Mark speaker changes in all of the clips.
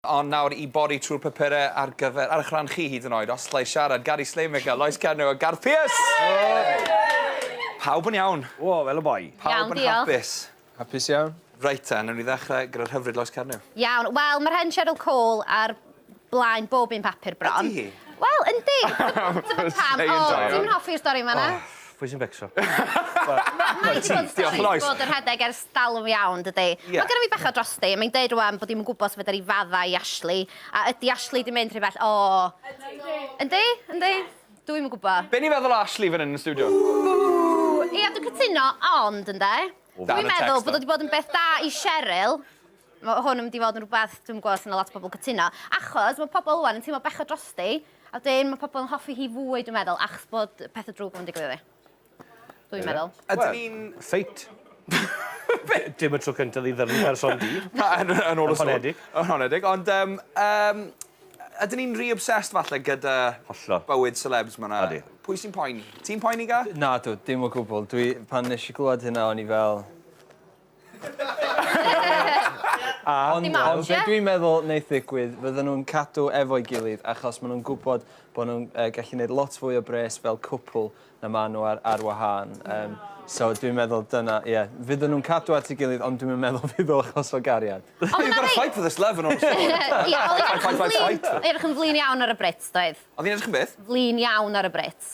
Speaker 1: Ond nawr i bori trwy'r papurau ar gyfer, ar eich rhan chi hyd yn oed, os llai siarad, Gary Slaymaker, Lois Cernyw a Garth Pierce! Hooray! Pawb yn iawn? O, fel y boi.
Speaker 2: Pawb yn hapus?
Speaker 1: Hapus iawn.
Speaker 3: Reit te, newn ni ddechrau
Speaker 1: gyda'r hyfryd Lois Cernyw. Iawn, wel, mae'r hen
Speaker 4: Cheryl Cole ar blaen bob un papur bron. Ydi hi? Wel, yndi! Dyma pam. O, dwi'm yn hoffi'r stori yn fan'na. Pwy sy'n becso? Mae hi 'di bod yn stori i fod yn rhedeg
Speaker 1: ers
Speaker 4: dalwm iawn, dydi? Mae genna fi bach o drosti. Mae'n deud rwan bod hi'm yn gwybod sut fedar hi faddau i Ashley. A ydi Ashley 'di mynd rhy bell? O! Yndi? Yndi? Dw i'm yn gwybod. Be ni'n feddwl o Ashley fan hyn
Speaker 1: yn y stiwdio? Ia,
Speaker 4: dwi'n cytuno, ond, ynde, dwi'n meddwl bod o 'di bod yn beth da i Cheryl. Mae hwn yn mynd i fod yn rhywbeth, dwi'm yn gwybod os 'na lot o bobl yn cytuno, achos mae pobl rwan yn teimlo bechod drosti. A wedyn, mae pobl yn hoffi hi fwy, dwi'n meddwl, achos bod pethau drwg yn digwydd iddi. Dwi'n meddwl. Ydyn ni'n...
Speaker 1: Feit.
Speaker 2: Dim y tro cyntaf i ddyfn person di. Yn ôl y sôn.
Speaker 1: Yn honedig. Ond,
Speaker 2: um,
Speaker 1: um, ydyn ni'n rhy obsessed falle gyda Hollo. bywyd
Speaker 2: celebs mae'na?
Speaker 1: Adi. Pwy sy'n poeni? Ti'n poeni, Ga? Na, dwi, dim o gwbl.
Speaker 3: Dwi, pan nes i glwad hynna, o'n i fel... Ond be' dwi'n meddwl
Speaker 4: neith ddigwydd
Speaker 3: fydden nhw'n cadw efo'i gilydd achos ma' nhw'n gwbod bo' nhw'n yy gallu neud lot fwy o bres fel cwpwl na ma' nhw ar ar wahân yym so dwi'n meddwl dyna ie fydden nhw'n cadw at 'i gilydd ond dwi'm yn meddwl fydd o achos o gariad. You've got to fight for this
Speaker 1: love and all the sort.
Speaker 4: Ie oedd 'i'n
Speaker 1: edrych yn flin iawn
Speaker 4: ar y Brits doedd? Oedd 'i'n edrych yn beth? Flin
Speaker 1: iawn ar y Brits.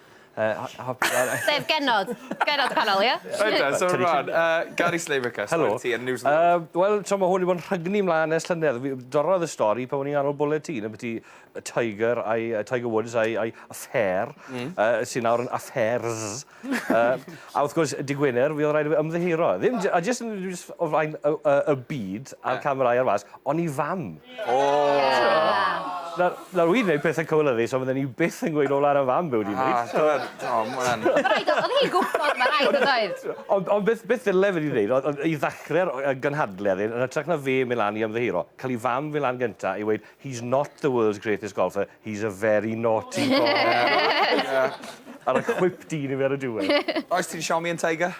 Speaker 4: Sef genod. Genod canol, ie? Ydyn, so rwan,
Speaker 1: Gary Slavica, stori ti yn New
Speaker 2: Zealand.
Speaker 1: Wel, tra mae hwn wedi bod yn
Speaker 2: rhygnu mlaen ers llynedd, dorrodd y stori pan o'n i'n nghanol bwled ti, yn byti y Tiger, a'i, Tiger Woods a'i, a'i affair, mm. uh, sy'n nawr yn affairs. uh, a wrth gwrs, di Gwener, fi oedd rhaid i fi ymddeheiro. Ddim, a jyst yn y byd a'r yeah. camerau ar fas, ond i fam. Nawr, nawr wi'n dweud pethau cywilyddus ond fydden i byth yn gweud ola ar y fam be' wedi neud. O t'mod, o ma' wnna'n... Ma' raid o- o'dd hi'n gwbod ma'
Speaker 4: raid o'dd oedd? Ond ond beth beth ddyle
Speaker 2: fe 'di neud oedd oedd i ddachre'r o- yy gynhadledd hyn yn ytrach na fe myn' lan i ymddiheuro, ca'l 'i fam fyn' lan gynta i weud he's not the world's greatest golfer, he's a very naughty boy. Ie. A roi chwip dyn i fe ar y diwedd. Oes ti'n Xiaomi yn Tiger?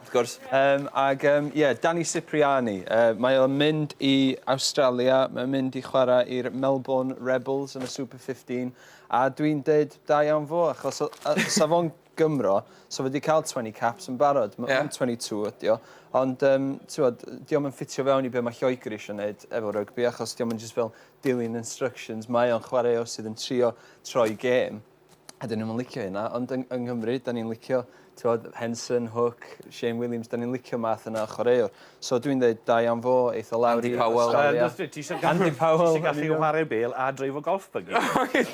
Speaker 3: Wrth gwrs. Yym,
Speaker 1: ac yym, ie,
Speaker 3: Danny Cipriani. Yy, mae o'n mynd i Awstralia, mae o'n mynd i chwarae i'r Melbourne Rebels yn y Super 15, a dwi'n deud da iawn fo, achos o- yy, sa fo'n Gymro, sa fo 'di cael 20 caps yn barod. M- Ie. Mae'n 22 ydi o, ond yym, t'mod, dio'm yn ffitio fewn i be' ma' Lloegr isio neud efo rygbi, achos dio'm yn jyst fel dilyn instructions, mae o'n chwaraewr sydd yn trio troi gêm. Ydyn nhw'm yn licio hynna, ond yng, yng Nghymru, da ni'n licio, tywod, Henson, Hook, Shane Williams, da ni'n licio math yna o chwaraewr. So dwi'n dweud, da iawn fo, eitha lawr Andy i Powell. Australia. Well, ti eisiau gallu, Andy Powell,
Speaker 2: ti eisiau gallu chwarae bel a dreifo golf byggy.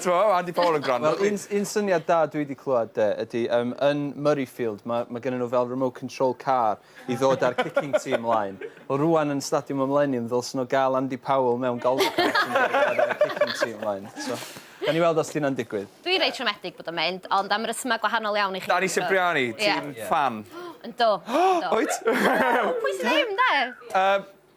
Speaker 2: Tywod, Andy
Speaker 1: Powell yn gwrando. Wel, un, un syniad da
Speaker 3: dwi wedi clywed de, ydy, um, yn Murrayfield, mae, mae gen nhw fel remote control car, i ddod â'r kicking team mlaen. Wel rwan yn Stadiwm y Mileniwm ddylsen nhw gael Andy Powell mewn golfcar sy'n gallu chwarae yn y kicking team mlaen. So, gawn ni weld os 'di hynna'n digwydd. Dwi reit siomedig bod o'n
Speaker 4: mynd, ond am resymau gwahanol iawn i chi. Danny Cipriani, ti'n
Speaker 1: ffan? Yndw, yndw.
Speaker 4: Wyt?
Speaker 1: Pwy sy
Speaker 4: ddim 'de? Yym.